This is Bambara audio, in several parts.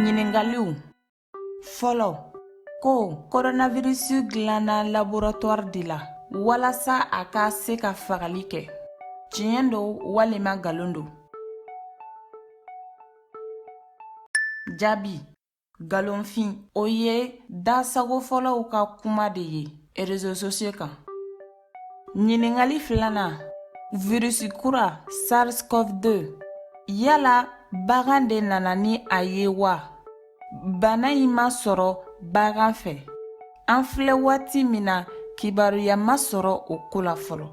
Ɲininkaliw fɔlɔ ko koronavirisi dilanna laboratwari de la walasa a ka se ka fagali kɛ tiɲɛ don walima nkalon don jaabi nkalonfin o ye dasagofɔlaw ka kuma de ye erezo sosiyo kan Ɲininkali filanan virisi kura SARS-CoV-2 yala bagan de nana ni a ye wa bana in ma sɔrɔ bagan fɛ an filɛ waati min na kibaruya ma sɔrɔ o ko la fɔlɔ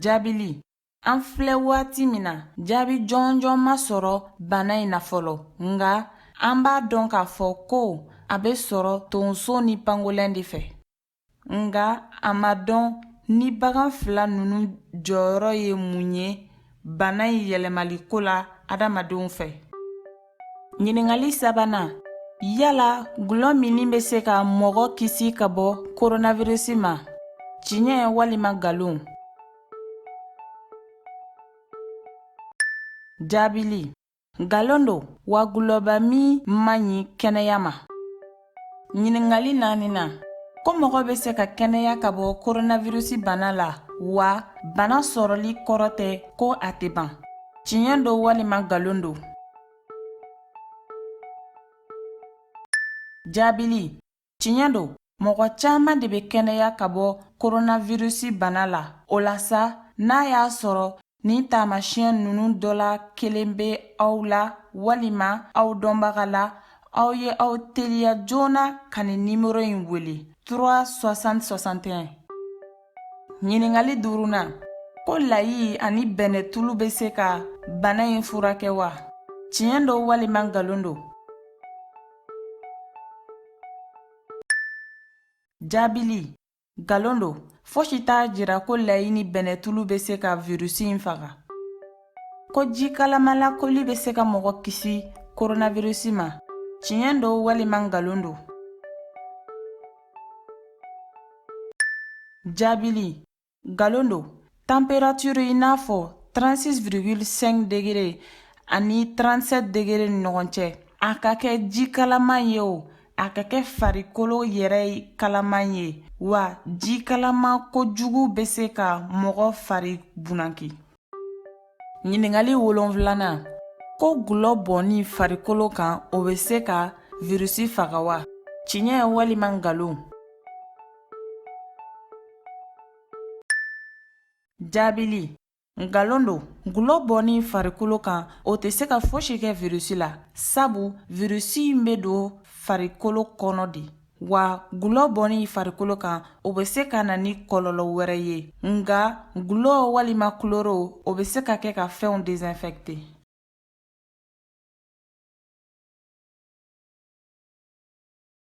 jaabili An filɛ waati min na jaabi jɔnjɔn ma sɔrɔ bana in na fɔlɔ nka an b'a dɔn k'a fɔ ko a bɛ sɔrɔ tonso ni pangolɛn de fɛ nka a ma dɔn ni bagan fila ninnu jɔyɔrɔ ye mun ye bana in yɛlɛmali ko la adamadenw fɛ ɲininkali sabanan yala dɔlɔ minni bɛ se ka mɔgɔ kisi ka bɔ koronavirisi ma tiɲɛ walima nkalon Jaabili nkalon don wa dɔlɔba min man ɲi kɛnɛya ma ɲininkali naaninan ko mɔgɔ bɛ se ka kɛnɛya ka bɔ koronavirisi bana la wa bana sɔrɔli kɔrɔ tɛ ko a tɛ ban tiɲɛ don walima nkalon don jaabili Tiɲɛ don mɔgɔ caman de bɛ kɛnɛya ka bɔ koronavirisi bana la o la sa n'a y'a sɔrɔ nin taamasiyɛn ninnu dɔ la kelen bɛ aw la walima aw dɔnbaga la aw ye aw teliya joona ka nin nimɔrɔ in wele 36061 ɲininkali duurunan ko layi ani bɛnɛtulu bɛ se ka bana in furakɛ wa tiɲɛ don walima nkalon don Jaabili nkalon don fosi t'a jira ko layi ni bɛnɛtulu bɛ se ka virusi in faga ko ji kalama la koli bɛ se ka mɔgɔ kisi koronavirisi ma tiɲɛ don walima nkalon don jaabili Nkalon don tanperature i n'a fɔ 36,5 degere ani 37 degere ni ɲɔgɔn cɛ a ka kɛ ji kalama ye o a ka kɛ farikolo yɛrɛ kalama ye wa ji kalama kojugu bɛ se ka mɔgɔ fari bunaki ɲininkali wolonfilanan ko dɔlɔ bɔnni farikolo kan o bɛ se ka wirusi faga wa tiɲɛ walima nkalon jaabili nkalon don dɔlɔ bɔnni farikolo kan o tɛ se ka fosi kɛ wirusi la sabu wirusi in bɛ don farikolo kɔnɔ de wa dɔlɔ bɔnni farikolo kan o bɛ se ka na ni kɔlɔlɔ wɛrɛ ye nka dɔlɔ walima kulɔri o bɛ se ka kɛ ka fɛnw dezɛnfɛkite